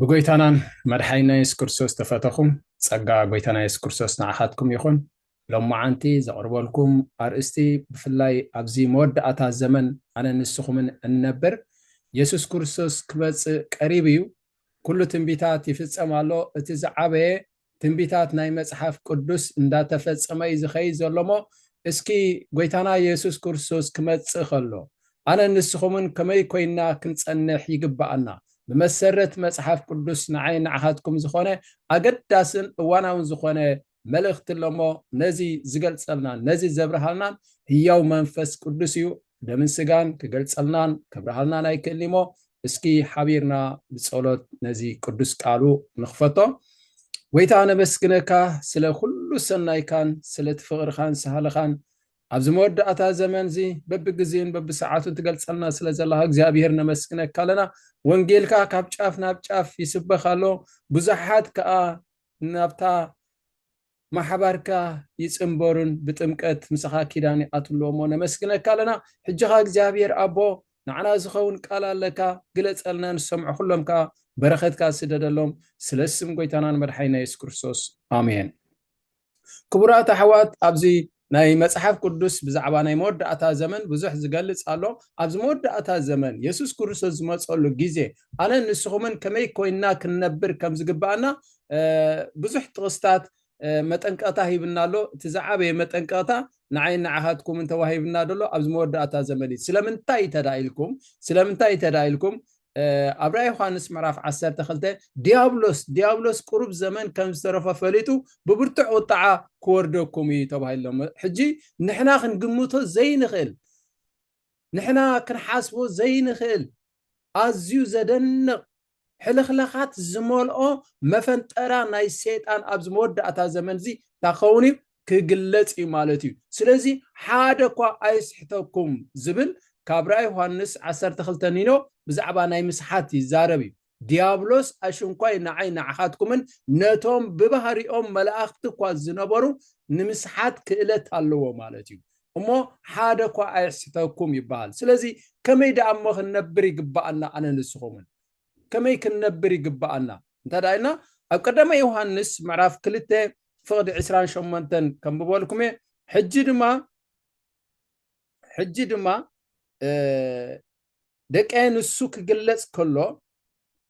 ብጎይታናን መድሓኒና የሱስ ክርስቶስ ተፈተኹም ጸጋ ጎይታና የሱስ ክርስቶስ ንዓኻትኩም ይኹን ሎማዓንቲ ዘቕርበልኩም ኣርእስቲ ብፍላይ ኣብዚ መወዳእታ ዘመን ኣነ ንስኹምን እንነብር የሱስ ክርስቶስ ክመፅእ ቀሪቡ እዩ ኩሉ ትንቢታት ይፍፀም ኣሎ እቲ ዝዓበየ ትንቢታት ናይ መጽሓፍ ቅዱስ እንዳተፈጸመ እዩ ዝኸይድ ዘሎ እሞ እስኪ ጎይታና የሱስ ክርስቶስ ክመጽእ ከሎ ኣነን ንስኹምን ከመይ ኮይንና ክንጸንሕ ይግብኣና ብመሰረት መጽሓፍ ቅዱስ ንዓይን ንዓኻትኩም ዝኾነ ኣገዳስን እዋናውን ዝኾነ መልእኽቲ ኣሎ እሞ ነዚ ዝገልጸልናን ነዚ ዘብርሃልናን ህያው መንፈስ ቅዱስ እዩ ደምን ስጋን ክገልጸልናን ከብርሃልናን ኣይክእልኒ እሞ እስኪ ሓቢርና ብጸሎት ነዚ ቅዱስ ቃሉ ንኽፈቶ ጎይታ ነበስግነካ ስለ ኩሉ ሰናይካን ስለ ትፍቕርኻን ሳህልኻን ኣብዚ መወዳእታ ዘመን እዚ በብግዜን በብሰዓቱን ትገልፀልና ስለ ዘለካ እግዚኣብሄር ነመስግነካ ኣለና ወንጌልካ ካብ ጫፍ ናብ ጫፍ ይስበኽ ኣሎ ብዙሓት ከዓ ናብታ ማሕባርካ ይጽንበሩን ብጥምቀት ምሳኻ ኪዳን ይኣትሉ እሞ ነመስግነካ ኣለና ሕጂ ከኣ እግዚኣብሄር ኣቦ ንዓና ዝኸውን ቃል ኣለካ ግለጸልና ንሰምዖ ኩሎም ከኣ በረኸትካ ስደደሎም ስለ ስም ጎይታናን መድሓኒና የሱስ ክርስቶስ ኣሜን ክቡራት ኣሕዋት ኣብዚ ናይ መጽሓፍ ቅዱስ ብዛዕባ ናይ መወዳእታ ዘመን ብዙሕ ዝገልጽ ኣሎ። ኣብዚ መወዳእታ ዘመን የሱስ ክርስቶስ ዝመጸሉ ግዜ ኣነን ንስኹምን ከመይ ኮይንና ክንነብር ከም ዝግብኣና ብዙሕ ጥቕስታት መጠንቀቕታ ሂብና ኣሎ። እቲ ዝዓበየ መጠንቀቕታ ንዓይን ንዓኻትኩምን ተዋሂብና ዘሎ ኣብዚ መወዳእታ ዘመን እዩ። ስለምንታይ ተዳ ኢልኩም ስለምንታይ ተዳ ኢልኩም ኣብ ራእይ ዮሃንስ ምዕራፍ ዓሰርተ ክልተ ዲያብሎስ ዲያብሎስ ቁሩብ ዘመን ከም ዝተረፎ ፈሊጡ ብብርቱዕ ቁጥዓ ክወርደኩም እዩ ተባሂሎም ሕጂ ንሕና ክንግምቶ ዘይንኽእል ንሕና ክንሓስቦ ዘይንኽእል ኣዝዩ ዘደንቕ ሕልኽላኻት ዝመልኦ መፈንጠራ ናይ ሰይጣን ኣብዚ መወዳእታ ዘመን እዚ እንታይ ክኸውን እዩ ክግለጽ እዩ ማለት እዩ። ስለዚ ሓደ እኳ ኣይስሕተኩም ዝብል ካብ ራእይ ዮሃንስ ዓሰርተ ክልተ ኒኖ ብዛዕባ ናይ ምስሓት ይዛረብ እዩ። ዲያብሎስ ኣሽንኳይ ንዓይ ንዓኻትኩምን ነቶም ብባህሪኦም መላእኽቲ እኳ ዝነበሩ ንምስሓት ክእለት ኣለዎ ማለት እዩ። እሞ ሓደ እኳ ኣይስሕተኩም ይበሃል። ስለዚ ከመይ ደኣ እሞ ክንነብር ይግበኣና ኣነ ንስኹምን ከመይ ክንነብር ይግበኣና እንተ ኢልና ኣብ ቀዳማይ ዮሃንስ ምዕራፍ ክልተ ፍቕዲ ዕስራን ሸሞንተን ከንብበልኩም እየ ሕጂ ድማ ሕጂ ድማ ደቀየ ንሱ ክግለጽ ከሎ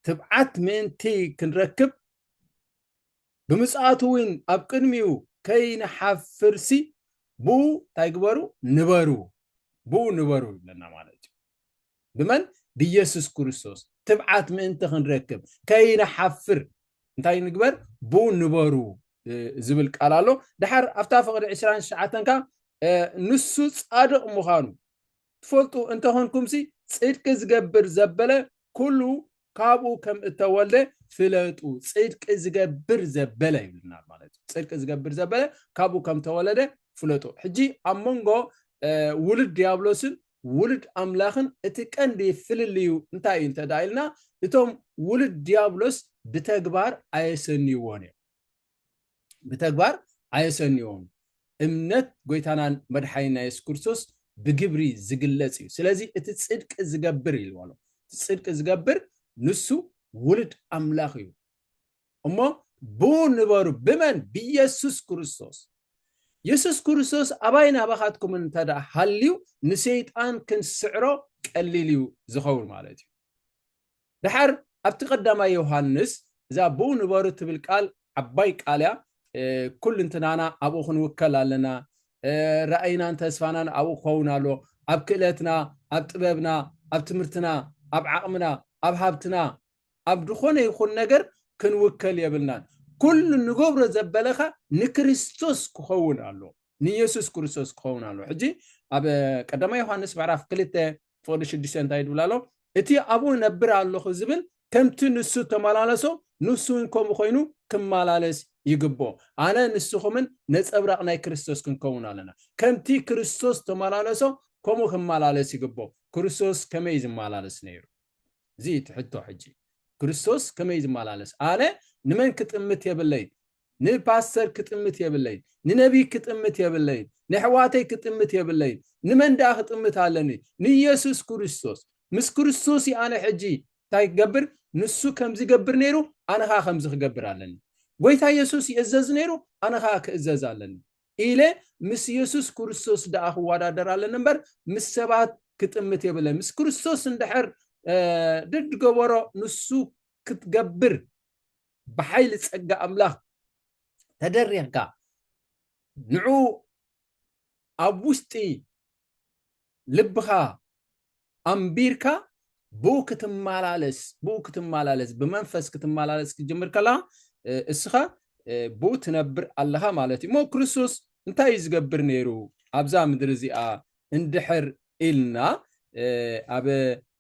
ትብዓት ምእንቲ ክንረክብ ብምጽኣቱ እውን ኣብ ቅድሚኡ ከይንሓፍርሲ ብኡ እንታይ ግበሩ ንበሩ ብኡ ንበሩ ይብለና ማለት እዩ ብመን? ብየሱስ ክርስቶስ ትብዓት ምእንቲ ክንረክብ ከይንሓፍር እንታይ ንግበር? ብ ንበሩ ዝብል ቃል ኣሎ። ድሓር ኣብታ ፍቕዲ ዕስራን ትሽዓተን ከኣ ንሱ ጻድቕ ምዃኑ ትፈልጡ እንተኾንኩምሲ ጽድቂ ዝገብር ዘበለ ኩሉ ካብኡ ከም እተወልደ ፍለጡ ጽድቂ ዝገብር ዘበለ ይብልና ማለት እዩ ጽድቂ ዝገብር ዘበለ ካብኡ ከም ተወለደ ፍለጡ ሕጂ ኣብ መንጎ ውሉድ ዲያብሎስን ውሉድ ኣምላኽን እቲ ቀንዲ ፍልልዩ እንታይ እዩ እንተ ኢልና እቶም ውሉድ ዲያብሎስ ብተግባር ኣየሰንይዎን እዮም ብተግባር ኣየሰንዮን እምነት ጎይታናን መድሓኒና የሱስ ክርስቶስ ብግብሪ ዝግለጽ እዩ ስለዚ እቲ ጽድቂ ዝገብር ኢልዎ ኣሎ እቲ ጽድቂ ዝገብር ንሱ ውሉድ ኣምላኽ እዩ እሞ ብኡ ንበሩ ብመን ብየሱስ ክርስቶስ የሱስ ክርስቶስ ኣባይ ናባኻትኩም እንተ ደኣ ሃልዩ ንሰይጣን ክንስዕሮ ቀሊል እዩ ዝኸውን ማለት እዩ ደሓር ኣብቲ ቀዳማይ ዮሃንስ እዛ ብኡ ንበሩ እትብል ቃል ዓባይ ቃል እያ። ኩልንትናና ኣብኡ ክንውከል ኣለና። ራእይናን ተስፋናን ኣብኡ ክኸውን ኣለዎ። ኣብ ክእለትና፣ ኣብ ጥበብና፣ ኣብ ትምህርትና፣ ኣብ ዓቕምና፣ ኣብ ሃብትና፣ ኣብ ዝኾነ ይኹን ነገር ክንውከል የብልናን። ኩሉ ንገብሮ ዘበለካ ንክርስቶስ ክኸውን ኣለዎ፣ ንየሱስ ክርስቶስ ክኸውን ኣለዎ። ሕጂ ኣብ ቀዳማይ ዮሃንስ ምዕራፍ ክልተ ፎሊ ሽዱሽተ እንታይ ድብል ኣሎ እቲ ኣብኡ ነብር ኣለኹ ዝብል ከምቲ ንሱ ተመላለሶ ንሱ እውን ከምኡ ኮይኑ ክመላለስ ይግብኦ ኣነ ንስኹምን ነፀብራቕ ናይ ክርስቶስ ክንከውን ኣለና ከምቲ ክርስቶስ ተመላለሶ ከምኡ ክመላለስ ይግብኦ ክርስቶስ ከመይ ዝመላለስ ነይሩ እዚ እቲ ሕቶ ሕጂ ክርስቶስ ከመይ ዝመላለስ ኣነ ንመን ክጥምት የብለይ ንፓስተር ክጥምት የብለይን ንነብይ ክጥምት የብለይን ነሕዋተይ ክጥምት የብለይን ንመን ደኣ ክጥምት ኣለኒ ንየሱስ ክርስቶስ ምስ ክርስቶስ እዩ ኣነ ሕጂ እንታይ ክገብር ንሱ ከምዚ ገብር ነይሩ ኣነ ከኣ ከምዚ ክገብር ኣለኒ ጎይታ የሱስ ይእዘዝ ነይሩ ኣነ ከኣ ክእዘዝ ኣለኒ ኢለ ምስ የሱስ ክርስቶስ ደኣ ክወዳደር ኣለኒ እምበር ምስ ሰባት ክጥምት የብለይን ምስ ክርስቶስ እንድሕር ድድ ገበሮ ንሱ ክትገብር ብሓይሊ ጸጋ ኣምላኽ ተደሪኽካ ንዑ ኣብ ውሽጢ ልብኻ ኣንቢርካ ብኡ ክትመላለስ ብኡ ክትመላለስ ብመንፈስ ክትመላለስ ክትጅምር ከለኻ እስኻ ብኡ ትነብር ኣለኻ ማለት እዩ እሞ ክርስቶስ እንታይ እዩ ዝገብር ነይሩ ኣብዛ ምድሪ እዚኣ እንድሕር ኢልና ኣብ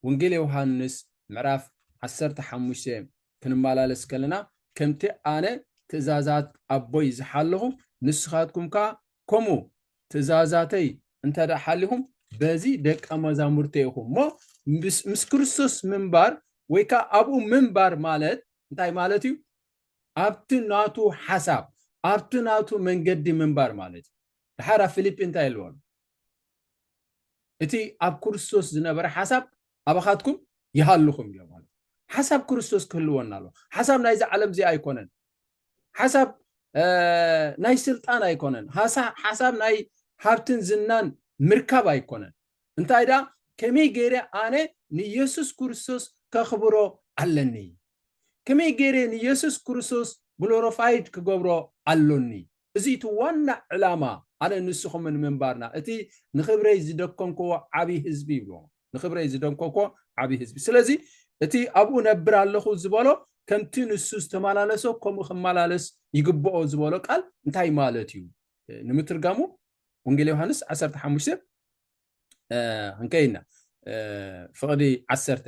ወንጌል ዮሃንስ ምዕራፍ 15 ክንማላለስ ከለና ከምቲ ኣነ ትእዛዛት ኣቦይ ዝሓለኹ ንስኻትኩም ከኣ ከምኡ ትእዛዛተይ እንተ ሓሊኹም በዚ ደቀ መዛሙርተይ ኢኹም እሞ ምስ ክርስቶስ ምንባር ወይ ከኣ ኣብኡ ምንባር ማለት እንታይ ማለት እዩ ኣብቲ ናቱ ሓሳብ ኣብቲ ናቱ መንገዲ ምንባር ማለት እዩ ድሓር ኣብ ፊልጲ እንታይ ኢልዎም እቲ ኣብ ክርስቶስ ዝነበረ ሓሳብ ኣባኻትኩም ይሃልኹም ኢሎም ማለት ሓሳብ ክርስቶስ ክህልወና ኣሎ ሓሳብ ናይዚ ዓለም እዚ ኣይኮነን ሓሳብ ናይ ስልጣን ኣይኮነን ሓሳብ ናይ ሃብትን ዝናን ምርካብ ኣይኮነን እንታይ ደኣ ከመይ ገይረ ኣነ ንየሱስ ክርስቶስ ከኽብሮ ኣለኒ ከመይ ገይረ ንየሱስ ክርስቶስ ግሎሮፋይድ ክገብሮ ኣሎኒ እዚ እቲ ዋና ዕላማ ኣነ ንስኹምን ምንባርና እቲ ንኽብረይ ዝደኮንክዎ ዓቢ ህዝቢ ይብሎ ንኽብረይ ዝደንኮኮ ዓቢ ህዝቢ ስለዚ እቲ ኣብኡ ነብር ኣለኹ ዝበሎ ከምቲ ንሱ ዝተመላለሶ ከምኡ ክመላለስ ይግብኦ ዝበሎ ቃል እንታይ ማለት እዩ ንምትርጋሙ ወንጌል ዮሃንስ ዓሰርተ ሓሙሽተ እንከይና ፍቕዲ ዓሰርተ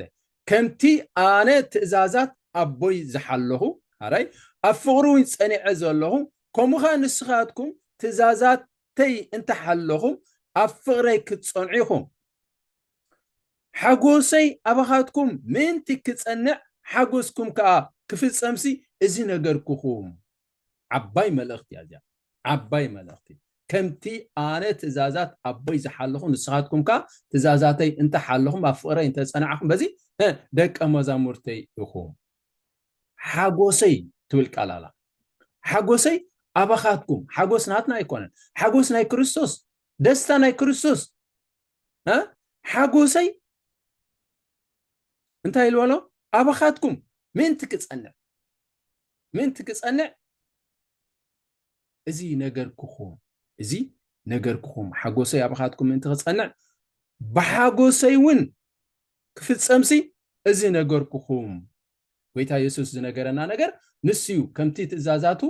ከምቲ ኣነ ትእዛዛት ኣቦይ ዝሓለኹ ኣራይ ኣብ ፍቕሪ እውን ጸኒዐ ዘለኹ ከምኡ ኸ ንስኻትኩም ትእዛዛተይ እንተሓለኹም ኣብ ፍቕረይ ክትጸንዑ ኢኹም ሓጎሰይ ኣባኻትኩም ምእንቲ ክጸንዕ ሓጎስኩም ከዓ ክፍጸምሲ እዚ ነገርኩኹም ዓባይ መልእኽቲ እያ እዚኣ ዓባይ መልእኽቲ ከምቲ ኣነ ትእዛዛት ኣቦይ ዝሓለኹ ንስኻትኩም ከ ትእዛዛተይ እንተሓለኹም ኣብ ፍቕረይ እንተፀናዕኹም በዚ ደቀ መዛሙርተይ ኢኹም ሓጎሰይ ትብል ቃል ኣላ ሓጎሰይ ኣባኻትኩም ሓጎስ ናትና ኣይኮነን ሓጎስ ናይ ክርስቶስ ደስታ ናይ ክርስቶስ ሓጎሰይ እንታይ ኢልበሎ ኣባኻትኩም ምእንቲ ክፀንዕ ምእንቲ ክጸንዕ እዚ ነገርኩኹም፣ እዚ ነገርኩኹም፣ ሓጎሰይ ኣባኻትኩም ምእንቲ ክጸንዕ፣ ብሓጎሰይ እውን ክፍጸምሲ እዚ ነገርኩኹም። ጐይታ የሱስ ዝነገረና ነገር ንሱ እዩ። ከምቲ ትእዛዛቱ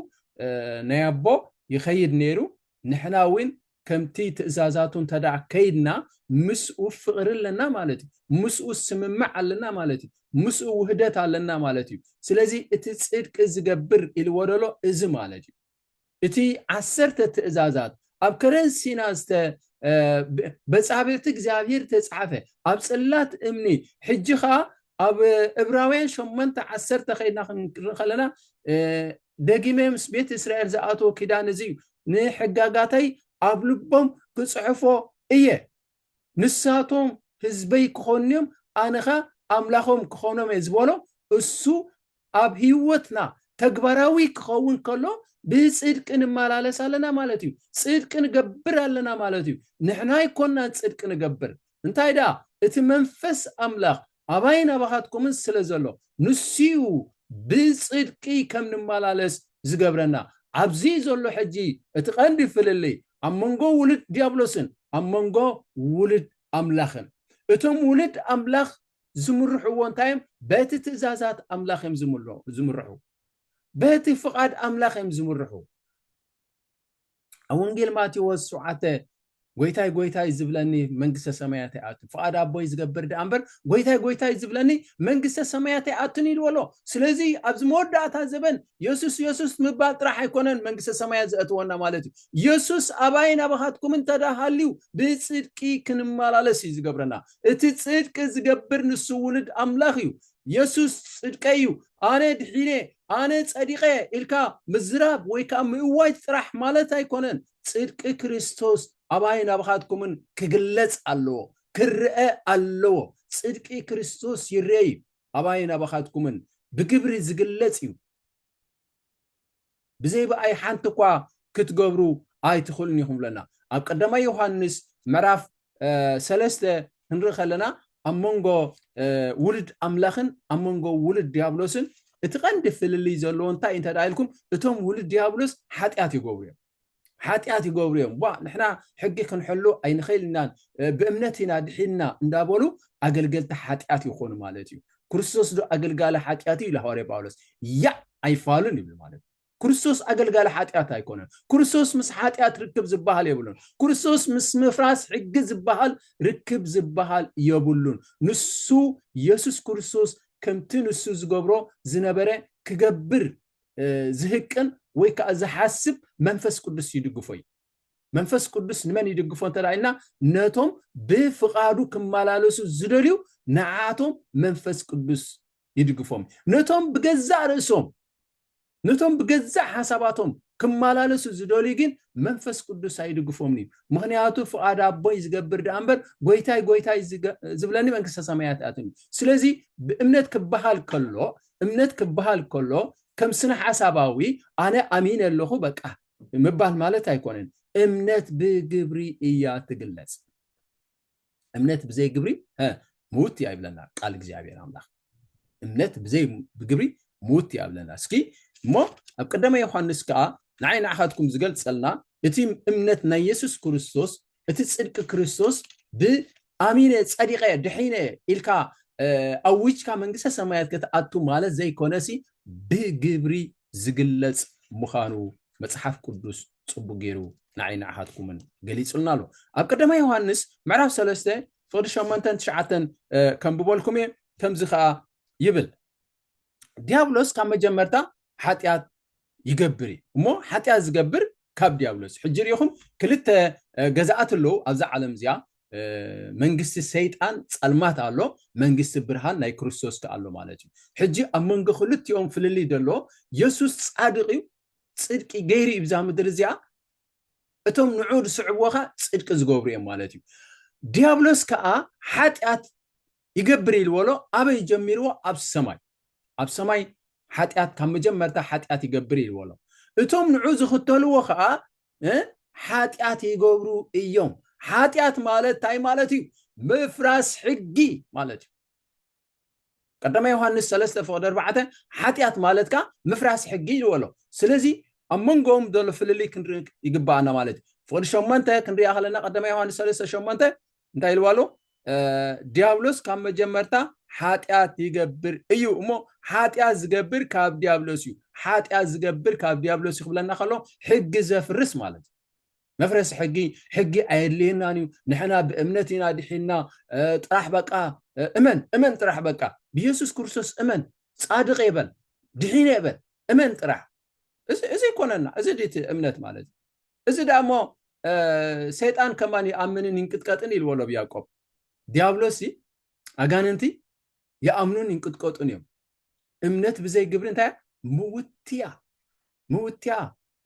ናይ ኣቦ ይኸይድ ነይሩ፣ ንሕና እውን ከምቲ ትእዛዛቱ እንተድኣ ከይድና ምስኡ ፍቕሪ ኣለና ማለት እዩ። ምስኡ ስምምዕ ኣለና ማለት እዩ። ምስኡ ውህደት ኣለና ማለት እዩ። ስለዚ እቲ ጽድቂ ዝገብር ኢልዎ ዘሎ እዚ ማለት እዩ። እቲ ዓሰርተ ትእዛዛት ኣብ ከረን ሲና ዝተ በጻብዕቲ እግዚኣብሄር ተጻሕፈ ኣብ ጽላት እምኒ ሕጂ ከኣ ኣብ እብራውያን ሸሞንተ ዓሰርተ ከይድና ክንርኢ ከለና ደጊመ ምስ ቤት እስራኤል ዝኣትዎ ኪዳን እዚ እዩ፣ ንሕጋጋተይ ኣብ ልቦም ክጽሕፎ እየ፣ ንሳቶም ህዝበይ ክኾኑ እዮም፣ ኣነ ኸኣ ኣምላኾም ክኾኖም እየ ዝበሎ እሱ ኣብ ህይወትና ተግባራዊ ክኸውን ከሎ ብጽድቂ ንመላለስ ኣለና ማለት እዩ፣ ጽድቂ ንገብር ኣለና ማለት እዩ፣ ንሕና ኣይኮናን ጽድቂ ንገብር እንታይ ደኣ እቲ መንፈስ ኣምላኽ ኣባይን ኣባኻትኩምን ስለ ዘሎ፣ ንሱ'ዩ ብጽድቂ ከም ንመላለስ ዚገብረና። ኣብዚ ዘሎ ሕጂ እቲ ቐንዲ ፍልልይ፣ ኣብ መንጎ ውሉድ ድያብሎስን ኣብ መንጎ ውሉድ ኣምላኽን። እቶም ውሉድ ኣምላኽ ዚምርሕዎ እንታይ እዮም? በቲ ትእዛዛት ኣምላኽ እዮም ዚምርሑ። በቲ ፍቓድ ኣምላኽ እዮም ዚምርሑ። ኣብ ወንጌል ማቴዎስ ሸውዓተ ጎይታይ ጎይታይ ዝብለኒ መንግስተ ሰማያት ኣይኣቱን ፍቓድ ኣቦይ ዝገብር ደኣ እምበር ጎይታይ ጎይታይ ዝብለኒ መንግስተ ሰማያት ኣይኣቱን ኢልዎ ኣሎ ስለዚ ኣብዚ መወዳእታ ዘበን የሱስ የሱስ ምባል ጥራሕ ኣይኮነን መንግስተ ሰማያት ዘእትወና ማለት እዩ የሱስ ኣባይ ናባኻትኩም እንተዳ ሃልዩ ብፅድቂ ክንመላለስ እዩ ዝገብረና እቲ ፅድቂ ዝገብር ንሱ ውሉድ ኣምላኽ እዩ የሱስ ጽድቀይ እዩ፣ ኣነ ድሒነ፣ ኣነ ጸዲቐ ኢልካ ምዝራብ ወይ ከኣ ምእዋጅ ጥራሕ ማለት ኣይኰነን። ጽድቂ ክርስቶስ ኣባይን ኣባኻትኩምን ክግለጽ ኣለዎ፣ ክረኣ ኣለዎ። ጽድቂ ክርስቶስ ይርኤ እዩ፣ ኣባይን ኣባኻትኩምን ብግብሪ ዝግለጽ እዩ። ብዘይ ብኣይ ሓንቲ እኳ ክትገብሩ ኣይትኽእሉን ኢኹም ብለና። ኣብ ቀዳማይ ዮሃንስ ምዕራፍ ሰለስተ ክንርኢ ከለና ኣብ መንጎ ውሉድ ኣምላኽን ኣብ መንጎ ውሉድ ዲያብሎስን እቲ ቀንዲ ፍልልይ ዘለዎ እንታይ እንተ ኢልኩም እቶም ውሉድ ዲያብሎስ ሓጢኣት ይገብሩ እዮም። ሓጢኣት ይገብሩ እዮም ቧእ ንሕና ሕጊ ክንሕሉ ኣይንኽእል ኢናን ብእምነት ኢና ድሒንና እንዳበሉ ኣገልገልቲ ሓጢኣት ይኾኑ ማለት እዩ ክርስቶስ ዶ ኣገልጋሊ ሓጢኣት እዩ ኢሉ ሃዋርያ ጳውሎስ ያእ ኣይፋሉን ይብል ማለት እዩ ክርስቶስ ኣገልጋሊ ሓጢኣት ኣይኮነን ክርስቶስ ምስ ሓጢኣት ርክብ ዝበሃል የብሉን ክርስቶስ ምስ ምፍራስ ሕጊ ዝበሃል ርክብ ዝበሃል የብሉን ንሱ የሱስ ክርስቶስ ከምቲ ንሱ ዝገብሮ ዝነበረ ክገብር ዝህቅን ወይ ከዓ ዝሓስብ መንፈስ ቅዱስ ይድግፎ እዩ መንፈስ ቅዱስ ንመን ይድግፎ እንተ ኢልና ነቶም ብፍቓዱ ክመላለሱ ዝደልዩ ንዓቶም መንፈስ ቅዱስ ይድግፎም ነቶም ብገዛእ ርእሶም ነቶም ብገዛእ ሓሳባቶም ክመላለሱ ዝደልዩ ግን መንፈስ ቅዱስ ኣይድግፎምን እዩ ምክንያቱ ፍቓድ ኣቦይ ዝገብር ደኣ እምበር ጎይታይ ጎይታይ ዝብለኒ መንግስተ ሰማያት ኣትን እዩ ስለዚ ብእምነት ክበሃል ከሎ እምነት ክበሃል ከሎ ከም ስነሓሳባዊ ኣነ ኣሚነ ኣለኹ በቃ ምባል ማለት ኣይኮነን። እምነት ብግብሪ እያ ትግለጽ። እምነት ብዘይ ግብሪ ምውት እያ ይብለና ቃል እግዚኣብሔር ኣምላኽ። እምነት ብዘይ ብግብሪ ምውት እያ ይብለና። እስኪ እሞ ኣብ ቀዳማይ ዮሓንስ ከዓ ንዓይ ንዓኻትኩም ዝገልጸልና እቲ እምነት ናይ የሱስ ክርስቶስ እቲ ጽድቂ ክርስቶስ ብኣሚነ ጸዲቀ ድሒነ ኢልካ ኣዊጅካ መንግስተ ሰማያት ክትኣቱ ማለት ዘይኮነሲ ብግብሪ ዝግለጽ ምዃኑ መጽሓፍ ቅዱስ ጽቡቅ ገይሩ ንዓይ ንዓኻትኩምን ገሊጹልና ኣሎ ኣብ ቀዳማ ዮሃንስ ምዕራፍ ሰለስተ ፍቅዲ ሸሞንተን ትሽዓተን ከንብበልኩም እየ ከምዚ ከዓ ይብል ዲያብሎስ ካብ መጀመርታ ሓጢኣት ይገብር እዩ እሞ ሓጢኣት ዝገብር ካብ ዲያብሎስ ሕጂ ሪኢኹም ክልተ ገዛኣት ኣለዉ ኣብዛ ዓለም እዚኣ መንግስቲ ሰይጣን ፀልማት ኣሎ መንግስቲ ብርሃን ናይ ክርስቶስ ከ ኣሎ ማለት እዩ ሕጂ ኣብ መንጎ ክልቲኦም ፍልልይ ደሎ የሱስ ፃድቅ እዩ ፅድቂ ገይሩ እዩ ብዛ ምድሪ እዚኣ እቶም ንዑ ዝስዕብዎ ከዓ ፅድቂ ዝገብሩ እዮም ማለት እዩ ዲያብሎስ ከዓ ሓጢኣት ይገብር ኢልዎ ኣሎ ኣበይ ጀሚርዎ ኣብ ሰማይ ኣብ ሰማይ ሓጢኣት ካብ መጀመርታ ሓጢኣት ይገብር ኢልዎ ኣሎ እቶም ንዑ ዝኽተልዎ ከዓ ሓጢኣት ይገብሩ እዮም ሓጢኣት ማለት እንታይ ማለት እዩ ምፍራስ ሕጊ ማለት እዩ ቀዳማ ዮሃንስ ሰለስተ ፍቕዲ ኣርባዕተ ሓጢኣት ማለት ከዓ ምፍራስ ሕጊ ኢልዎ ኣሎ ስለዚ ኣብ መንጎኦም ዘሎ ፍልልይ ክንርኢ ይግባኣና ማለት እዩ ፍቕዲ ሸሞንተ ክንሪኣ ከለና ቀዳማ ዮሃንስ ሰለስተ ሸሞንተ እንታይ ኢልዋ ኣሎ ዲያብሎስ ካብ መጀመርታ ሓጢኣት ይገብር እዩ እሞ ሓጢኣት ዝገብር ካብ ዲያብሎስ እዩ ሓጢኣት ዝገብር ካብ ዲያብሎስ እዩ ክብለና ከሎ ሕጊ ዘፍርስ ማለት እዩ መፍረሲ ሕጊ ሕጊ ኣየድልየናን እዩ ንሕና ብእምነት ኢና ድሒና ጥራሕ በቃ እመን እመን ጥራሕ በቃ ብየሱስ ክርስቶስ እመን ፃድቅ የበል ድሒነ የበል እመን ጥራሕ እዚ ኮነና እዚ ድቲ እምነት ማለት እዩ እዚ ደኣ እሞ ሰይጣን ከማን ይኣምንን ይንቅጥቀጥን ኢልዎ ኣሎ ኣብ ያዕቆብ ዲያብሎስሲ ኣጋንንቲ ይኣምኑን ይንቅጥቀጡን እዮም እምነት ብዘይ ግብሪ እንታይ ምውትያ ምውትያ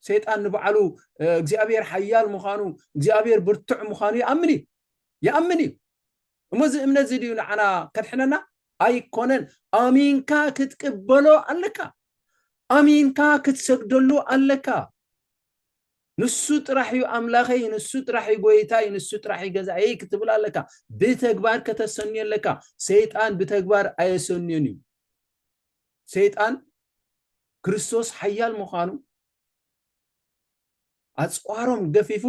ሰይጣን ንባዕሉ እግዚኣብሔር ሓያል ምዃኑ እግዚኣብሔር ብርቱዕ ምዃኑ ይኣምን እዩ ይኣምን እዩ እሞ እዚ እምነት እዚ ድዩ ንዓና ከድሕነና ኣይኮነን ኣሚንካ ክትቅበሎ ኣለካ ኣሚንካ ክትሰግደሉ ኣለካ ንሱ ጥራሕ እዩ ኣምላኸይ ንሱ ጥራሕ እዩ ጎይታይ ንሱ ጥራሕ እዩ ገዛእየይ ክትብል ኣለካ ብተግባር ከተሰንዮ ኣለካ ሰይጣን ብተግባር ኣየሰንዮን እዩ ሰይጣን ክርስቶስ ሓያል ምዃኑ ኣፅዋሮም ገፊፉ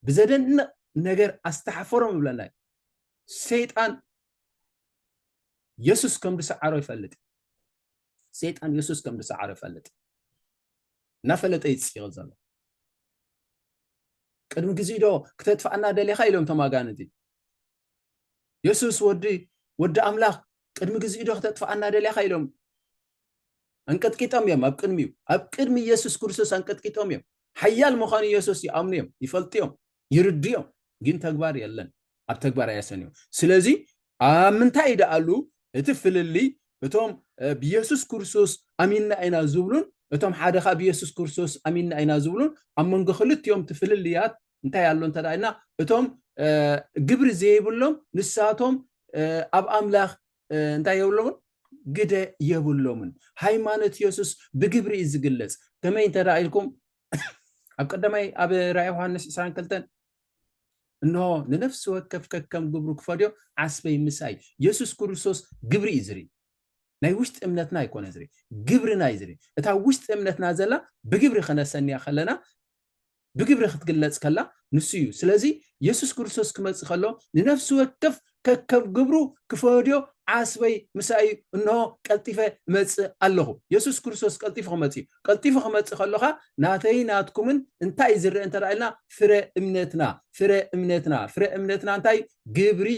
ብዘደንቕ ነገር ኣስተሓፈሮም ይብለና እዩ ሰይጣን የሱስ ከም ዝሰዓሮ ይፈልጥ ሰይጣን የሱስ ከም ዝሰዓሮ ይፈልጥ እናፈለጠ እዩ ዝፅይቕ ዘሎ ቅድሚ ግዜ ዶ ክተጥፍኣና ደሊኻ ኢሎም እቶም ኣጋንንቲ የሱስ ወዲ ወዲ ኣምላኽ ቅድሚ ግዜ ዶ ክተጥፍኣና ደሊኻ ኢሎም ኣንቀጥቂጦም እዮም ኣብ ቅድሚኡ ኣብ ቅድሚ የሱስ ክርስቶስ ኣንቀጥቂጦም እዮም ሓያል ምዃኑ የሱስ ይኣምኑ እዮም ይፈልጡ እዮም ይርድዮም ግን ተግባር የለን ኣብ ተግባር ኣያሰንዮ ስለዚ ኣብ ምንታይ ይደኣሉ እቲ ፍልልይ እቶም ብየሱስ ክርስቶስ ኣሚንና ኢና ዝብሉን እቶም ሓደ ካብ የሱስ ክርስቶስ ኣሚንና ኢና ዝብሉን ኣብ መንጎ ክልቲኦም እቲ ፍልልያት እንታይ ኣሎ እንተ ኢልና እቶም ግብሪ ዘይብሎም ንሳቶም ኣብ ኣምላኽ እንታይ የብሎምን ግደ የብሎምን ሃይማኖት የሱስ ብግብሪ እዩ ዝግለጽ ከመይ እንተ ኢልኩም ኣብ ቀዳማይ ኣብ ራእይ ዮሃንስ 22 እንሆ ንነፍሲ ወከፍ ከከም ግብሩ ክፈድዮ ዓስበይ ምሳይ የሱስ ክርስቶስ ግብሪ እዩ ዝርኢ ናይ ውሽጢ እምነትና ኣይኮነ ዝርኢ ግብርና እዩ ዝርኢ እታ ውሽጢ እምነትና ዘላ ብግብሪ ከነሰንያ ከለና ብግብሪ ክትግለጽ ከላ ንሱ እዩ ስለዚ የሱስ ክርስቶስ ክመጽእ ከሎ ንነፍሲ ወከፍ ከከም ግብሩ ክፈድዮ ዓስበይ ምሳይ እዩ፣ እንሆ ቀልጢፈ እመጽእ ኣለኹ። የሱስ ክርስቶስ ቀልጢፉ ክመጽእ እዩ። ቀልጢፉ ክመጽእ ከሎ ከኣ ናተይን ናትኩምን እንታይ እዩ ዝርኣ እንተ ኢልና ፍረ እምነትና ፍረ እምነትና ፍረ እምነትና እንታይ እዩ? ግብሪ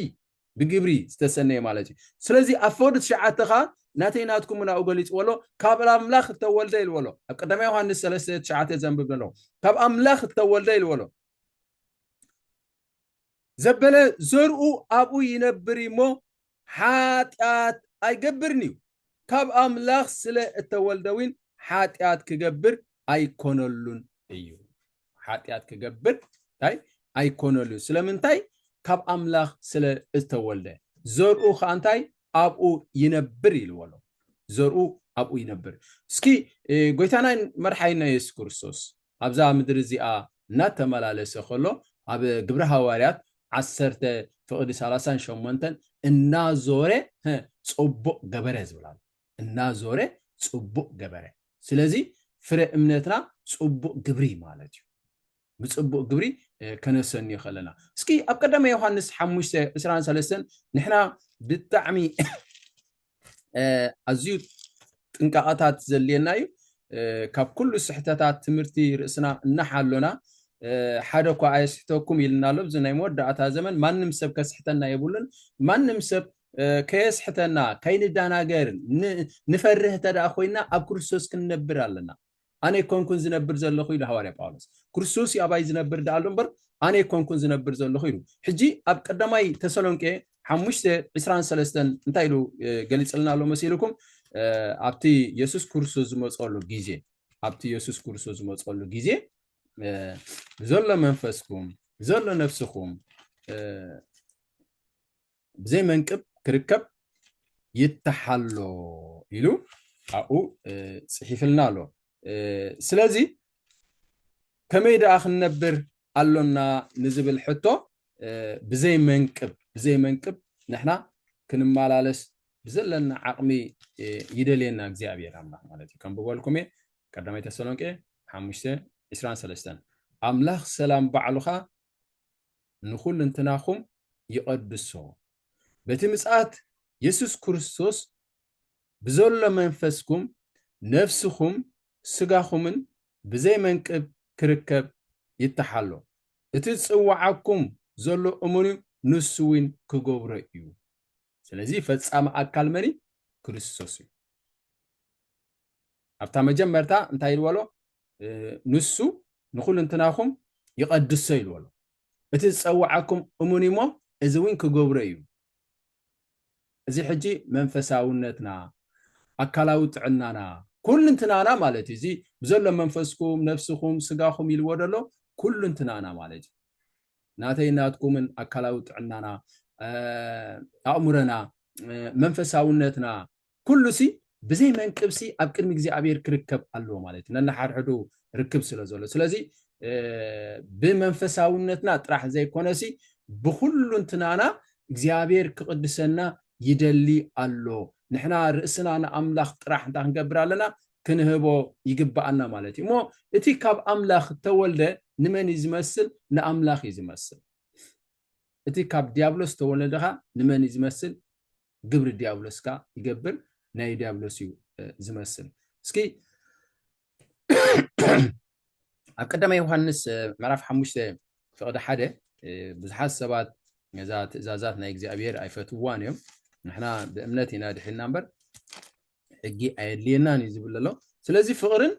ብግብሪ ዝተሰነየ ማለት እዩ። ስለዚ ኣብ ፈወዲ ትሽዓተ ከኣ ናተይ ናትኩም ናብኡ ገሊጽዎ ኣሎ ካብ ኣምላኽ እተወልደ ኢልዎ ኣሎ ኣብ ቀዳማይ ዮሃንስ ሰለስተ ትሽዓተ ዘንብብ ዘለኹ ካብ ኣምላኽ እተወልደ ኢልዎ ኣሎ ዘበለ ዘርኡ ኣብኡ ይነብር እዩ እሞ ሓጢኣት ኣይገብርን እዩ፣ ካብ ኣምላኽ ስለ እተወልደ እውን ሓጢኣት ክገብር ኣይኰነሉን እዩ። ሓጢኣት ክገብር እንታይ ኣይኰነሉን፣ ስለምንታይ? ካብ ኣምላኽ ስለ እተወልደ፣ ዘርኡ ኸኣ እንታይ ኣብኡ ይነብር ኢልዎ ኣሎ፣ ዘርኡ ኣብኡ ይነብር። እስኪ ጐይታናን መድሓኒናን የሱስ ክርስቶስ ኣብዛ ምድሪ እዚኣ እናተመላለሰ ከሎ ኣብ ግብሪ ሃዋርያት ዓሰርተ ፍቕዲ ሰላሳን ሸሞንተን እናዞረ ጽቡቕ ገበረ ዝብል ኣሎ እናዞረ ጽቡቕ ገበረ ስለዚ ፍረ እምነትና ጽቡቕ ግብሪ ማለት እዩ ብጽቡቕ ግብሪ ከነሰንዮ ከለና እስኪ ኣብ ቀዳማይ ዮሃንስ ሓሙሽተ ዕስራን ሰለስተን ንሕና ብጣዕሚ ኣዝዩ ጥንቃቐታት ዘድልየና እዩ ካብ ኩሉ ስሕተታት ትምህርቲ ርእስና እናሓሎና ሓደ እኳ ኣየስሕተኩም ኢልና ኣሎ እዚ ናይ መወዳእታ ዘመን ማንም ሰብ ከስሕተና የብሉን ማንም ሰብ ከየስሕተና ከይንዳናገር ንፈርህ እንተደኣ ኮይና ኣብ ክርስቶስ ክንነብር ኣለና ኣነ ኣይኮንኩን ዝነብር ዘለኹ ኢሉ ሃዋርያ ጳውሎስ። ክርስቶስ እዩ ኣባይ ዝነብር ደኣ ኣሎ እምበር ኣነ ኣይኮንኩን ዝነብር ዘለኹ ኢሉ። ሕጂ ኣብ ቀዳማይ ተሰሎንቄ ሓሙሽተ ዕስራን ሰለስተን እንታይ ኢሉ ገሊጽልና ኣሎ መሲልኩም? ኣብቲ የሱስ ክርስቶስ ዝመጸሉ ግዜ ኣብቲ የሱስ ክርስቶስ ዝመጸሉ ግዜ ዘሎ መንፈስኩም ዘሎ ነፍስኹም ብዘይ መንቅብ ክርከብ ይተሓሎ ኢሉ ኣብኡ ፅሒፍልና ኣሎ ስለዚ ከመይ ደኣ ክንነብር ኣሎና ንዝብል ሕቶ ብዘይ መንቅብ ብዘይ መንቅብ ንሕና ክንመላለስ ብዘለና ዓቕሚ ይደልየና እግዚኣብሔር ኣምላኽ ማለት እዩ ከም ብበልኩም እየ ቀዳማይ ተሰሎንቄ ሓሙሽተ ዕስራን ሰለስተን ኣምላኽ ሰላም ባዕሉኻ ንኹልንትናኹም ይቐድሶ። በቲ ምጽኣት የሱስ ክርስቶስ ብዘሎ መንፈስኩም፣ ነፍስኹም፣ ስጋኹምን ብዘይ መንቅብ ክርከብ ይተሓሎ። እቲ ዝጽውዓኩም ዘሎ እመኑ ንሱ ውን ክገብሮ እዩ። ስለዚ ፈጻሚ ኣካል መን እዩ? ክርስቶስ እዩ። ኣብታ መጀመርታ እንታይ ኢልዎ ኣሎ? ንሱ ንኹልንትናኹም ይቐድሶ ኢልዎ ኣሎ። እቲ ዝጸውዓኩም እሙን እዩሞ እዚ እውን ክገብሮ እዩ። እዚ ሕጂ መንፈሳውነትና ኣካላዊ ጥዕናና ኩልንትናና ማለት እዩ እዚ ብዘሎ መንፈስኩም ነፍስኹም ስጋኹም ኢልዎ ደሎ ኩልንትናና ማለት እዩ ናተይን ናትኩምን ኣካላዊ ጥዕናና፣ ኣእምሮና፣ መንፈሳውነትና፣ ኩሉሲ ብዘይ መንቅብሲ ኣብ ቅድሚ እግዚኣብሔር ክርከብ ኣለዎ ማለት እዩ። ነንሓድሕዱ ርክብ ስለ ዘሎ። ስለዚ ብመንፈሳውነትና ጥራሕ ዘይኮነሲ ብኩሉንትናና እግዚኣብሔር ክቕድሰና ይደሊ ኣሎ። ንሕና ርእስና ንኣምላኽ ጥራሕ እንታይ ክንገብር ኣለና? ክንህቦ ይግብኣና ማለት እዩ እሞ እቲ ካብ ኣምላኽ እተወልደ ንመን እዩ ዝመስል ንኣምላኽ እዩ ዝመስል እቲ ካብ ዲያብሎስ እተወለደ ኸዓ ንመን እዩ ዝመስል ግብሪ ዲያብሎስ ከዓ ይገብር ናይ ዲያብሎስ እዩ ዝመስል እስኪ ኣብ ቀዳማ ዮሃንስ ምዕራፍ ሓሙሽተ ፍቕዲ ሓደ ብዙሓት ሰባት ነዛ ትእዛዛት ናይ እግዚኣብሔር ኣይፈትዋን እዮም ንሕና ብእምነት ኢና ድሒና እምበር ሕጊ ኣየድልየናን እዩ ዝብል ዘሎ ስለዚ ፍቕርን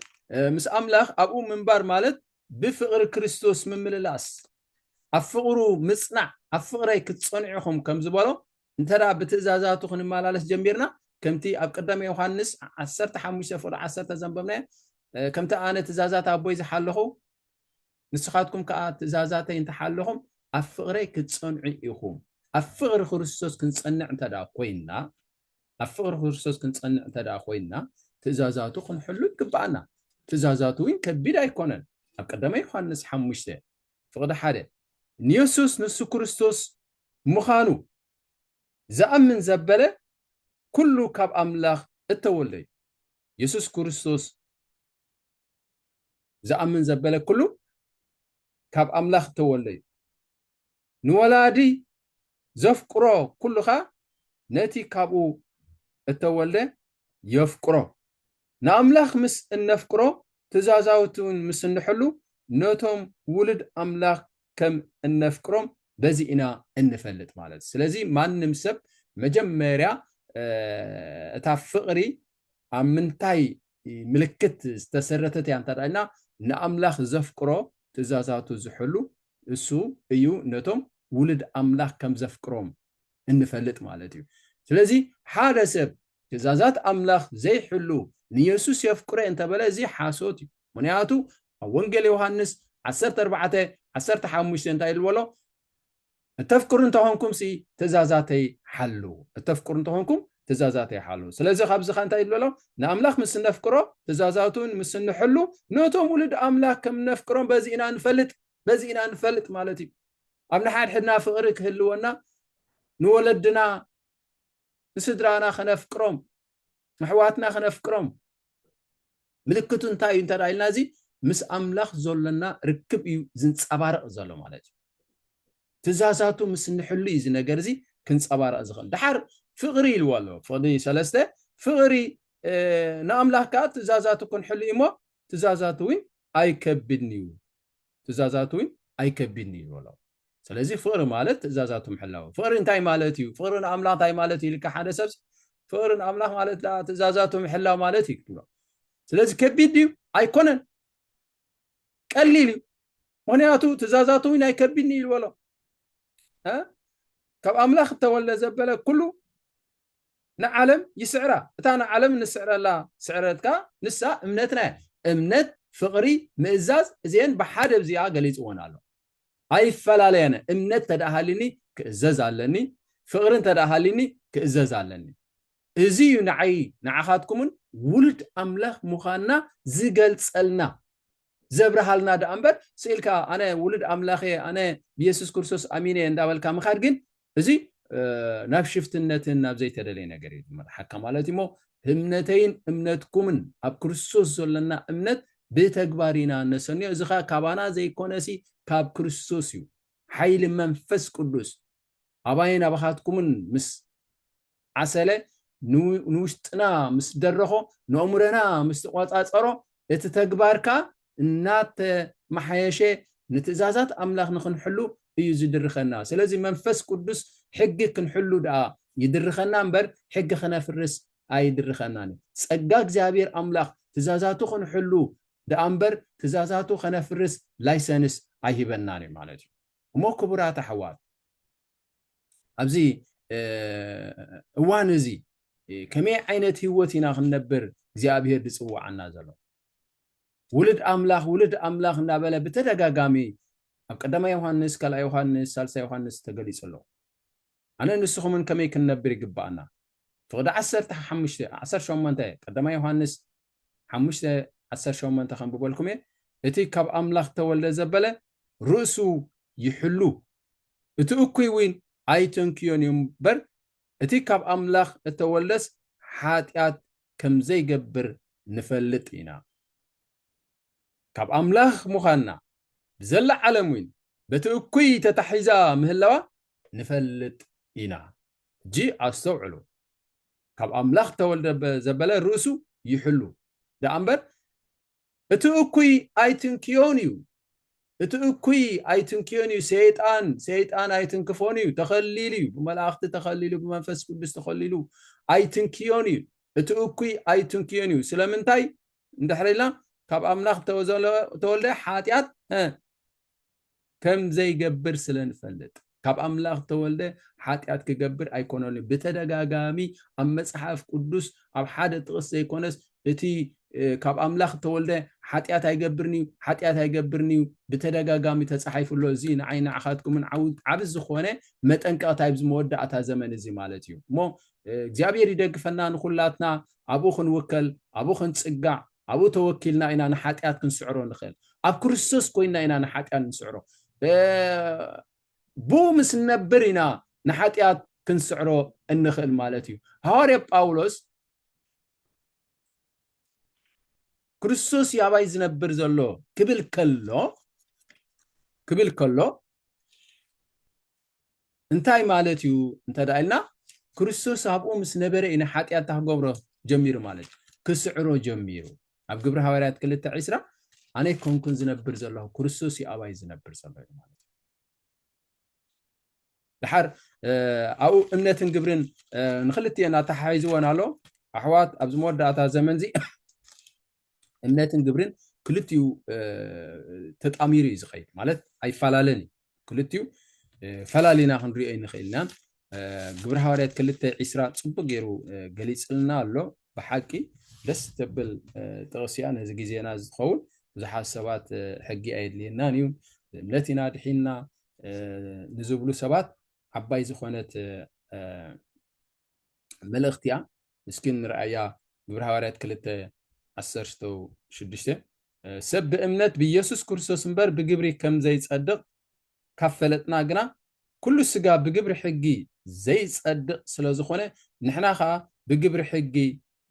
ምስ ኣምላኽ ኣብኡ ምንባር ማለት ብፍቕሪ ክርስቶስ ምምልላስ ኣብ ፍቕሩ ምጽናዕ ኣብ ፍቕረይ ክትጸንዑ ኢኹም ከም ዝበሎ እንተ ብትእዛዛቱ ክንመላለስ ጀሚርና ከምቲ ኣብ ቀዳሚ ዮሃንስ 15 ፍቕሪ 1 ዘንበብናዮ ከምቲ ኣነ ትእዛዛት ኣቦይ ዝሓለኹ ንስኻትኩም ከዓ ትእዛዛተይ እንተሓለኹም ኣብ ፍቕረይ ክትጸንዑ ኢኹም ኣብ ፍቕሪ ክርስቶስ ክንጸንዕ እንተ ኮይንና ኣብ ፍቕሪ ክርስቶስ ክንጸንዕ እንተ ደኣ ኮይንና ትእዛዛቱ ክንሕሉ ይግብኣና። ትእዛዛቱ እውን ከቢድ ኣይኮነን። ኣብ ቀዳማይ ዮሓንስ ሓሙሽተ ፍቕዲ ሓደ ንየሱስ ንሱ ክርስቶስ ምኻኑ ዝኣምን ዘበለ ኩሉ ካብ ኣምላኽ እተወልደ እዩ። የሱስ ክርስቶስ ዝኣምን ዘበለ ኩሉ ካብ ኣምላኽ እተወልደ እዩ። ንወላዲ ዘፍቅሮ ኩሉ ከኣ ነቲ ካብኡ እተወልደ የፍቅሮ። ንኣምላኽ ምስ እነፍቅሮ ትእዛዛቱውን ምስ እንሕሉ ነቶም ውሉድ ኣምላኽ ከም እነፍቅሮም በዚ ኢና እንፈልጥ ማለት እዩ። ስለዚ ማንም ሰብ መጀመርያ እታ ፍቕሪ ኣብ ምንታይ ምልክት ዝተሰረተት እያ እንተ ኢልና ንኣምላኽ ዘፍቅሮ ትእዛዛቱ ዝሕሉ እሱ እዩ ነቶም ውሉድ ኣምላኽ ከም ዘፍቅሮም እንፈልጥ ማለት እዩ ስለዚ ሓደ ሰብ ትእዛዛት ኣምላኽ ዘይሕሉ ንየሱስ የፍቅሮ እንተበለ እዚ ሓሶት እዩ ምክንያቱ ኣብ ወንጌል ዮሃንስ 14 15 እንታይ ዝበሎ እተፍቅሩ እንተ ኾንኩምሲ ትእዛዛተይ ሓልዉ። እተፍቅሩ እንተ ኾንኩም ትእዛዛተይ ሓልዉ። ስለዚ ካብዚ ኸኣ እንታይ ንበሎም? ንኣምላኽ ምስ እነፍቅሮ፣ ትእዛዛቱን ምስ እንሕሉ፣ ነቶም ውሉድ ኣምላኽ ከም እነፍቅሮም በዚ ኢና እንፈልጥ። በዚ ኢና እንፈልጥ ማለት እዩ። ኣብ ንሓድሕድና ፍቕሪ ክህልወና፣ ንወለድና ንስድራና ከነፍቅሮም፣ ነሕዋትና ክነፍቅሮም ምልክቱ እንታይ እዩ እንተ ኢልና እዚ ምስ ኣምላኽ ዘሎና ርክብ እዩ ዝንጸባረቕ ዘሎ ማለት እዩ ትእዛዛቱ ምስ ንሕሉ እዩ እዚ ነገር እዚ ክንጸባረቕ ዝኽእል ድሓር ፍቕሪ ኢልዎ ኣሎ ፍቕዲ ሰለስተ ፍቕሪ ንኣምላኽ ከዓ ትእዛዛቱ ክንሕሉ እዩ እሞ ትእዛዛቱ እውን ኣይከብድን እዩ ትእዛዛቱ ውን ኣይከቢድን እዩ ዝበሎ። ስለዚ ፍቕሪ ማለት ትእዛዛቱ ምሕላው እዩ። ፍቕሪ እንታይ ማለት እዩ? ፍቕሪ ንኣምላኽ እንታይ ማለት እዩ ኢልካ ሓደ ሰብሲ ፍቕሪ ንኣምላኽ ማለት ደኣ ትእዛዛቱ ምሕላው ማለት እዩ ክትብሎ። ስለዚ ከቢድ ድዩ? ኣይኮነን፣ ቀሊል እዩ። ምክንያቱ ትእዛዛቱ ውን ኣይከቢድን እዩ ዝበሎ። ካብ ኣምላኽ እተወልደ ዘበለ ኩሉ ንዓለም ይስዕራ እታ ንዓለም ንስዕረላ ስዕረት ከኣ ንሳ እምነትና እያ እምነት ፍቅሪ ምእዛዝ እዚኤን ብሓደ ብዚኣ ገሊጽወን ኣሎ ኣይፈላለያነ እምነት ተደኣ ሃሊኒ ክእዘዝ ኣለኒ ፍቅሪ እንተደኣ ሃሊኒ ክእዘዝ ኣለኒ እዚ እዩ ንዓይ ንዓኻትኩምን ውሉድ ኣምላኽ ምዃንና ዝገልጸልና ዘብርሃልና ደኣ እምበር ስኢልካ ኣነ ውሉድ ኣምላኽ እየ ኣነ ብየሱስ ክርስቶስ ኣሚነ እየ እንዳበልካ ምኻድ ግን እዚ ናብ ሽፍትነትን ናብ ዘይተደለየ ነገር እዩ ዝመርሓካ ማለት እዩሞ እምነተይን እምነትኩምን ኣብ ክርስቶስ ዘለና እምነት ብተግባር ኢና እነሰንዮ እዚ ኸ ካባና ዘይኮነሲ ካብ ክርስቶስ እዩ ሓይሊ መንፈስ ቅዱስ ኣባይን ኣባኻትኩምን ምስ ዓሰለ ንውሽጥና ምስ ደረኾ፣ ንኣእምሮና ምስ ተቖጻጸሮ፣ እቲ ተግባር ከኣ እናተመሓየሸ ንትእዛዛት ኣምላኽ ንኽንሕሉ እዩ ዝድርኸና። ስለዚ መንፈስ ቅዱስ ሕጊ ክንሕሉ ደኣ ይድርኸና እምበር ሕጊ ክነፍርስ ኣይድርኸናን እዩ። ጸጋ እግዚኣብሔር ኣምላኽ ትእዛዛቱ ክንሕሉ ደኣ እምበር ትእዛዛቱ ከነፍርስ ላይሰንስ ኣይህበናን እዩ ማለት እዩ። እሞ ክቡራት ኣሕዋት ኣብዚ እዋን እዚ ከመይ ዓይነት ህይወት ኢና ክንነብር እግዚኣብሄር ዝፅውዓና ዘሎ? ውልድ ኣምላኽ ውልድ ኣምላኽ እናበለ ብተደጋጋሚ ኣብ ቀዳማይ ዮሃንስ፣ ካልኣይ ዮሃንስ፣ ሳልሳይ ዮሃንስ ተገሊጹ ኣሎ። ኣነ ንስኹምን ከመይ ክንነብር ይግባኣና? ፍቕዲ ዓሰርተ ሓሙሽተ ዓሰርተ ሸሞንተ ቀዳማይ ዮሃንስ ሓሙሽተ ዓሰርተ ሸሞንተ ከንብበልኩም እየ እቲ ካብ ኣምላኽ እተወልደ ዘበለ ርእሱ ይሕሉ እቲ እኩይ እውን ኣይተንክዮን እዩ እምበር እቲ ካብ ኣምላኽ እተወልደስ ሓጢኣት ከም ዘይገብር ንፈልጥ ኢና ካብ ኣምላኽ ምዃንና ብዘላ ዓለም እውን በቲ እኩይ ተታሒዛ ምህላዋ ንፈልጥ ኢና ሕጂ ኣስተውዕሉ፣ ካብ ኣምላኽ ተወልደ ዘበለ ርእሱ ይሕሉ ደኣ እምበር፣ እቲ እኩይ ኣይትንክዮን እዩ፣ እቲ እኩይ ኣይትንክዮን እዩ፣ ሰይጣን፣ ሰይጣን ኣይትንክፎን እዩ፣ ተኸሊሉ እዩ፣ ብመላእኽቲ ተኸሊሉ፣ ብመንፈስ ቅዱስ ተኸሊሉ፣ ኣይትንክዮን እዩ፣ እቲ እኩይ ኣይትንክዮን እዩ፣ ስለምንታይ እንድሕር ኢልና ካብ ኣምላኽ ተወልደ ሓጢኣት ከም ዘይገብር ስለ ንፈልጥ ካብ ኣምላኽ ተወልደ ሓጢኣት ክገብር ኣይኮነን እዩ ብተደጋጋሚ ኣብ መጽሓፍ ቅዱስ ኣብ ሓደ ጥቕስ ዘይኮነስ እቲ ካብ ኣምላኽ ተወልደ ሓጢኣት ኣይገብርን እዩ ሓጢኣት ኣይገብርን እዩ ብተደጋጋሚ ተጻሒፉ ኣሎ እዚ ንዓይ ንዓኻትኩምን ዓቢ ዝኾነ መጠንቀቕታ ኣብዚ መወዳእታ ዘመን እዚ ማለት እዩ እሞ እግዚኣብሔር ይደግፈና ንኹላትና ኣብኡ ክንውከል ኣብኡ ክንጽጋዕ ኣብኡ ተወኪልና ኢና ንሓጢኣት ክንስዕሮ ንኽእል። ኣብ ክርስቶስ ኮይንና ኢና ንሓጢኣት ንስዕሮ። ብኡ ምስ ንነብር ኢና ንሓጢኣት ክንስዕሮ እንኽእል ማለት እዩ። ሃዋርያ ጳውሎስ ክርስቶስ እዩ ኣባይ ዝነብር ዘሎ ክብል ከሎ ክብል ከሎ እንታይ ማለት እዩ እንተ ኢልና ክርስቶስ ኣብኡ ምስ ነበረ ኢና ሓጢኣት እንታ ክገብሮ ጀሚሩ ማለት እዩ ክስዕሮ ጀሚሩ ኣብ ግብሪ ሃዋርያት ክልተ ዒስራ ኣነ ኮንኩን ዝነብር ዘለኹ ክርስቶስ እዩ ኣባይ ዝነብር ዘሎ እዩ ማለት እዩ ድሓር ኣብኡ እምነትን ግብርን ንክልትኤን ኣተሓሒዝወን ኣሎ ኣሕዋት ኣብዚ መወዳእታ ዘመን እዚ እምነትን ግብርን ክልቲኡ ተጣሚሩ እዩ ዝኸይድ ማለት ኣይፈላለን እዩ ክልቲኡ ፈላሊና ክንሪኦ ይንኽእል ኢና ግብረ ሃዋርያት ክልተ ዒስራ ፅቡቅ ገይሩ ገሊፅልና ኣሎ ብሓቂ ደስ ተብል ጥቕሲ እያ ነዚ ግዜና ዝኸውን ብዙሓት ሰባት ሕጊ ኣየድልየናን እዩ እምነት ኢና ድሒና ንዝብሉ ሰባት ዓባይ ዝኾነት መልእኽቲ እያ እስኪ ንርኣያ ግብረ ሃዋርያት ክልተ ዓሰርተ ሽዱሽተ ሰብ ብእምነት ብኢየሱስ ክርስቶስ እምበር ብግብሪ ከም ዘይጸድቕ ካብ ፈለጥና ግና ኩሉ ስጋ ብግብሪ ሕጊ ዘይጸድቕ ስለ ዝኾነ ንሕና ኸኣ ብግብሪ ሕጊ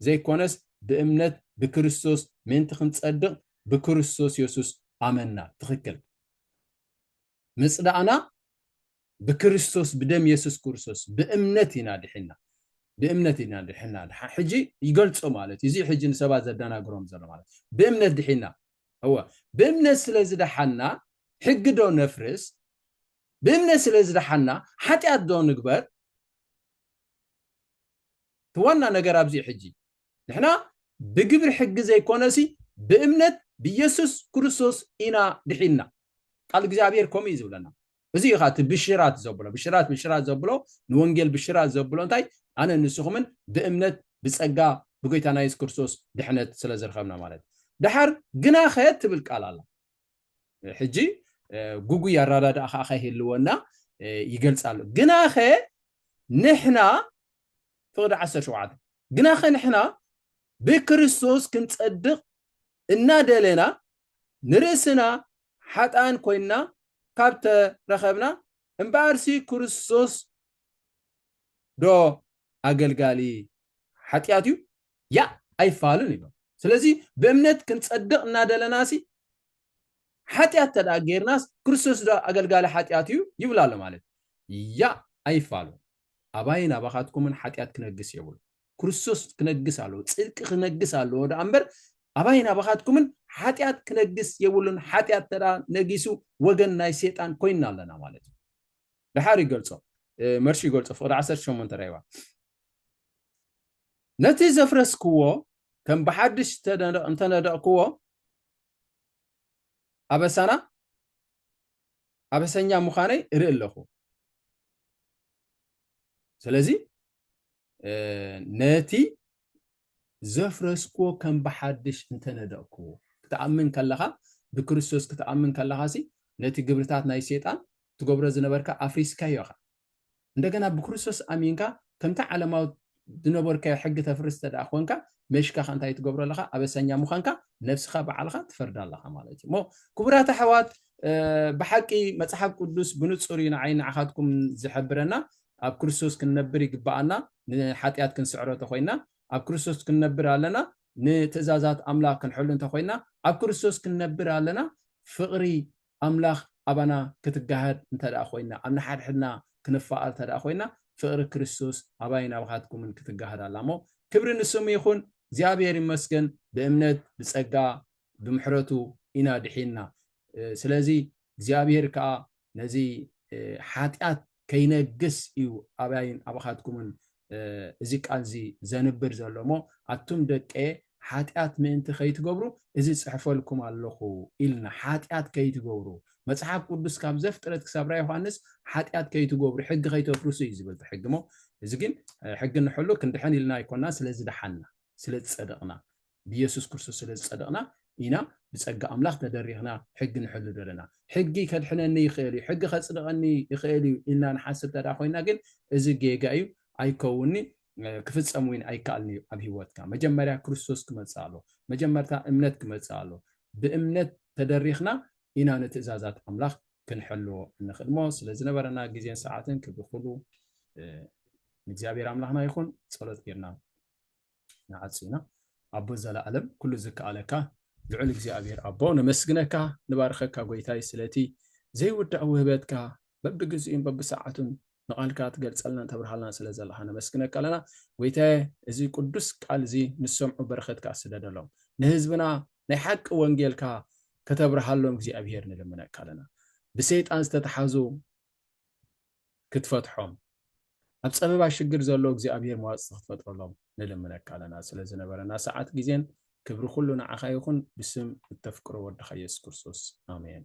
ዘይኮነስ ብእምነት ብክርስቶስ ምእንቲ ክንጸድቕ ብክርስቶስ የሱስ ኣመና ትኽክል ምጽዳቕና ብክርስቶስ ብደም የሱስ ክርስቶስ ብእምነት ኢና ድሒንና ብእምነት ኢና ድሕና ሕጂ ይገልጾ ማለት እዩ እዚ ሕጂ ንሰባት ዘደናግሮም ዘሎ ማለት ብእምነት ድሒና እወ ብእምነት ስለ ዝደሓና ሕጊ ዶ ነፍርስ ብእምነት ስለ ዝደሓና ሓጢኣት ዶ ንግበር እቲ ዋና ነገር ኣብዚ ሕጂ ንሕና ብግብሪ ሕጊ ዘይኮነሲ ብእምነት ብየሱስ ክርስቶስ ኢና ድሒንና። ቃል እግዚኣብሔር ከምኡ እዩ ዝብለና። እዚ እዩ እቲ ብሽራት ዘብሎ ብሽራት ብሽራት ዘብሎ ንወንጌል ብሽራት ዘብሎ እንታይ ኣነ ንስኹምን ብእምነት ብጸጋ ብጎይታና የሱስ ክርስቶስ ድሕነት ስለ ዝረኸብና ማለት ድሓር ግናኸ ትብል ቃል ኣላ ሕጂ ጉጉይ ኣረዳድኣ ከዓ ከይህልወና ይገልጻሉ ግናኸ ንሕና ፍቕዲ ዓሰርተ ሸውዓተ፣ ግናኸ ንሕና ብክርስቶስ ክንጸድቕ እናደለና ንርእስና ሓጥኣን ኮይንና ካብ ተረኸብና፣ እምበኣርሲ ክርስቶስዶ ኣገልጋሊ ሓጢኣት እዩ? ያእ ኣይፋሉን ኢሎም። ስለዚ ብእምነት ክንጸድቕ እናደለናሲ ሓጢኣት እንተደኣ ጌርናስ ክርስቶስዶ ኣገልጋሊ ሓጢኣት እዩ ይብላሎ ማለት እዩ? ያእ ኣይፋሉን። ኣባይን ኣባኻትኩምን ሓጢኣት ክነግስ የብሉን። ክርስቶስ ክነግስ ኣለዎ፣ ጽድቂ ክነግስ ኣለዎ ደኣ እምበር ኣባይን ኣባኻትኩምን ሓጢኣት ክነግስ የብሉን። ሓጢኣት እንተደኣ ነጊሱ ወገን ናይ ሴጣን ኮይንና ኣለና ማለት እዩ። ደሓር ይገልጾ መርሺ ይገልጾ ፍቕዲ ዓሰርተ ሸሞንተ ራይዋ ነቲ ዘፍረስክዎ ከም ብሓድሽ እንተነደቕክዎ ኣበሳና ኣበሰኛ ምዃነይ እርኢ ኣለኹ። ስለዚ ነቲ ዘፍረስክዎ ከም ብሓድሽ እንተነደቕክዎ ክትኣምን ከለኻ ብክርስቶስ ክትኣምን ከለኻሲ ነቲ ግብርታት ናይ ሴጣን ትገብሮ ዝነበርካ ኣፍሪስካዮ ኢኻ። እንደገና ብክርስቶስ ኣሚንካ ከምቲ ዓለማዊ ዝነበርካዮ ሕጊ ተፍርስ እንተደኣ ኮንካ መሽካ ከ እንታይ ትገብሮ ኣለኻ ኣበሰኛ ምዃንካ ነብስኻ በዓልኻ ትፈርድ ኣለኻ ማለት እዩ እሞ ክቡራት ኣሕዋት ብሓቂ መፅሓፍ ቅዱስ ብንፁር እዩ ንዓይ ንዓኻትኩም ዝሕብረና ኣብ ክርስቶስ ክንነብር ይግባኣና ንሓጢኣት ክንስዕሮ ተኮይና ኣብ ክርስቶስ ክንነብር ኣለና ንትእዛዛት ኣምላኽ ክንሕሉ እንተኮይና ኣብ ክርስቶስ ክንነብር ኣለና ፍቕሪ ኣምላኽ ኣባና ክትጋሃድ እንተድኣ ኮይና፣ ኣብ ንሓድሕድና ክንፋኣር እንተድኣ ኮይና፣ ፍቕሪ ክርስቶስ ኣባይን ኣባኻትኩምን ክትጋሃድ ኣላ እሞ፣ ክብሪ ንስሙ ይኹን፣ እግዚኣብሄር ይመስገን፣ ብእምነት ብጸጋ ብምሕረቱ ኢና ድሒንና። ስለዚ እግዚኣብሄር ከኣ ነዚ ሓጢኣት ከይነግስ እዩ ኣባይን ኣባኻትኩምን እዚ ቃልዚ ዘንብር ዘሎ እሞ ኣቱም ደቄ ሓጢኣት ምእንቲ ከይትገብሩ እዚ ጽሕፈልኩም ኣለኹ ኢልና ሓጢኣት ከይትገብሩ መጽሓፍ ቅዱስ ካብ ዘፍጥረት ክሳብ ራ ዮሃንስ ሓጢኣት ከይትገብሩ ሕጊ ከይተፍርሱ እዩ ዝብል እቲ ሕጊ እሞ እዚ ግን ሕጊ ንሕሉ ክንድሕን ኢልና ኣይኮና ስለ ዝደሓና ስለ ዝጸደቕና ብየሱስ ክርስቶስ ስለ ዝጸደቕና ኢና ብጸጋ ኣምላኽ ተደሪኽና ሕጊ ንሕሉ ዘለና። ሕጊ ከድሕነኒ ይኽእል እዩ፣ ሕጊ ከጽድቐኒ ይኽእል እዩ ኢልና ንሓስብ እንተ ደኣ ኮይና ግን እዚ ጌጋ እዩ፣ ኣይከውንን'ዩ፣ ክፍጸም እውን ኣይከኣልን እዩ ኣብ ህይወትካ። መጀመርያ ክርስቶስ ክመጽእ ኣለዎ። መጀመርታ እምነት ክመጽእ ኣለዎ። ብእምነት ተደሪኽና ኢና ንትእዛዛት ኣምላኽ ክንሕልዎ እንኽእል እሞ ስለ ዝነበረና ግዜን ሰዓትን ክብሪ ኩሉ ንእግዚኣብሔር ኣምላኽና ይኹን። ጸሎት ጌርና ንዓጹ ኢና ኣቦ ዘለኣለም ኩሉ ዝከኣለካ ልዑል እግዚኣብሔር ኣቦ ነመስግነካ ንባርኸካ ጎይታይ ስለቲ ዘይውዳእ ውህበትካ በብግዚኡን በብሰዓቱን ንቓልካ ትገልጸልና ተብርሃልና ስለ ዘለኻ ነመስግነካ ኣለና ጎይታየ እዚ ቅዱስ ቃል እዚ ንሰምዑ በረኸትካ ስደደሎም ንህዝብና ናይ ሓቂ ወንጌልካ ከተብርሃሎም እግዚኣብሄር ንልምነካ ኣለና ብሰይጣን ዝተተሓዙ ክትፈትሖም ኣብ ጸበባ ሽግር ዘሎ እግዚኣብሔር መዋጽቲ ክትፈጥረሎም ንልምነካ ኣለና ስለ ዝነበረና ሰዓት ግዜን ክብሪ ኩሉ ንዓኻ ይኹን ብስም እተፍቅሮ ወድኻ ኢየሱስ ክርስቶስ ኣሜን